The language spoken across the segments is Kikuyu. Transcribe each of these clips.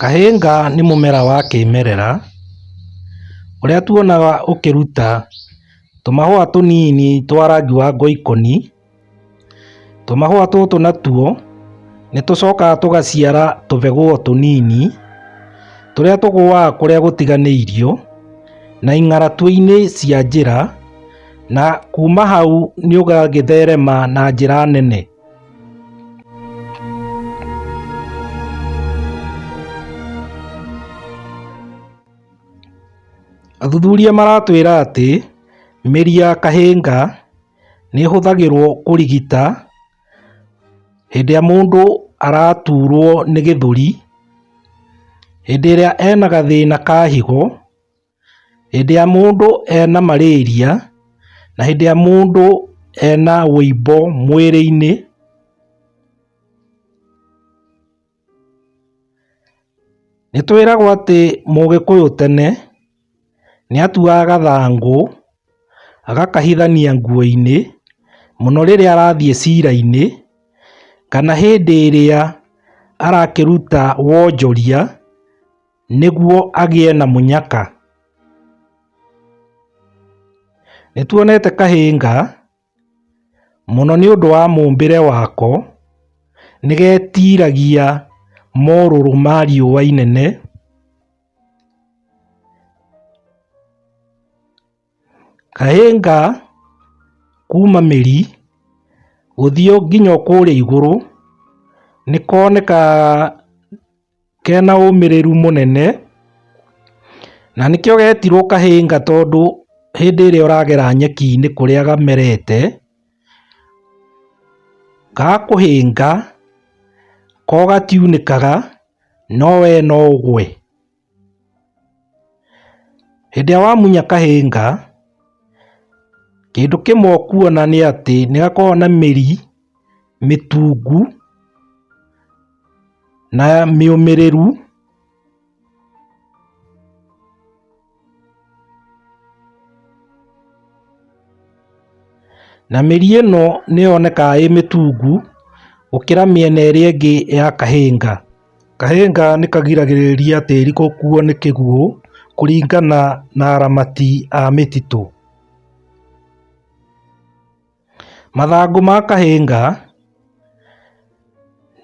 Kahĩnga nĩ mũmera wa kĩmerera ũrĩa tuonaga ũkĩruta tũmahũa tũnini twa rangi wa ngoikoni. Tũmahũa tũtũ natuo nĩ tũcokaga tũgaciara tũbegũo tũnini tũrĩa tũgũaga kũrĩa gũtiganĩirio na ing'aratuainĩ cia njĩra na kuma hau nĩ ũgagĩtherema na njĩra nene. Athuthuria maratwĩra atĩ mĩri ya kahĩnga Nĩ ĩhũthagĩrwo kũrigita hĩndĩ ĩrĩa mũndũ araturwo nĩ gĩthũri, hĩndĩ ĩrĩa ena gathĩna ka higo, hĩndĩ ĩrĩa mũndũ ena marĩria na hĩndĩ ĩrĩa mũndũ ena ũimbo mwĩrĩ-inĩ. Nĩtwĩragwo atĩ mũgĩkũyũ tene nĩatuaga gathangũ agakahithania nguoinĩ mũno rĩrĩa arathiĩ cirainĩ kana hĩndĩ ĩrĩa arakĩruta wonjoria nĩguo agĩe na mũnyaka. Nĩtuonete kahĩnga. Mũno nĩ ũndũ wa mũmbĩre wako, nĩ getiragia morũrũ ma riũa inene, kahĩnga kuma mĩri gũthiĩ nginya kũrĩa igũrũ nĩ konekaga... Kena ũmĩrĩru mũnene, na nĩkĩo getirwo kahĩnga tondũ hĩndĩ ĩrĩa ũragera nyeki-inĩ kũrĩa gamerete, gakũhĩnga, ko gatiunĩkaga, no we no ũgwe. Hĩndĩ ĩrĩa wamunya kahĩnga, kĩndũ kĩmwe ũkuona nĩ atĩ nĩ gakoragwo na mĩri. mĩtungu na mĩũmĩrĩru na mĩri ĩno nĩ yonekaga ĩ mĩtungu gũkĩra mĩena ĩrĩa ĩngĩ ya kahĩnga. Kahĩnga nĩ kagiragĩrĩria tĩri gũkuo nĩ kĩguũ kũringana na aramati a mĩtitũ. Mathangũ ma kahĩnga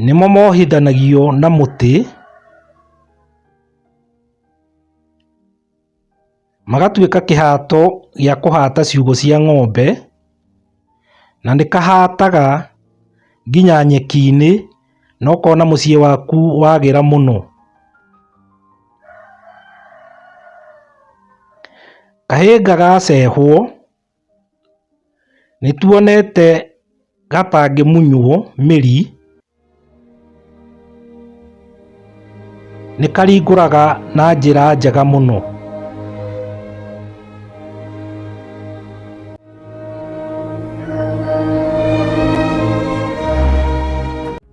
nĩmo mohithanagio na mũtĩ, magatuĩka kĩhato gĩa kũhata ciugũ cia ng'ombe, na nĩ kahataga nginya nyeki-inĩ na ũkona mũciĩ waku wagĩra mũno. Kahĩnga gacehwo... Nĩtuonete gatangĩmunywo mĩri, nĩkaringũraga na njĩra njega mũno.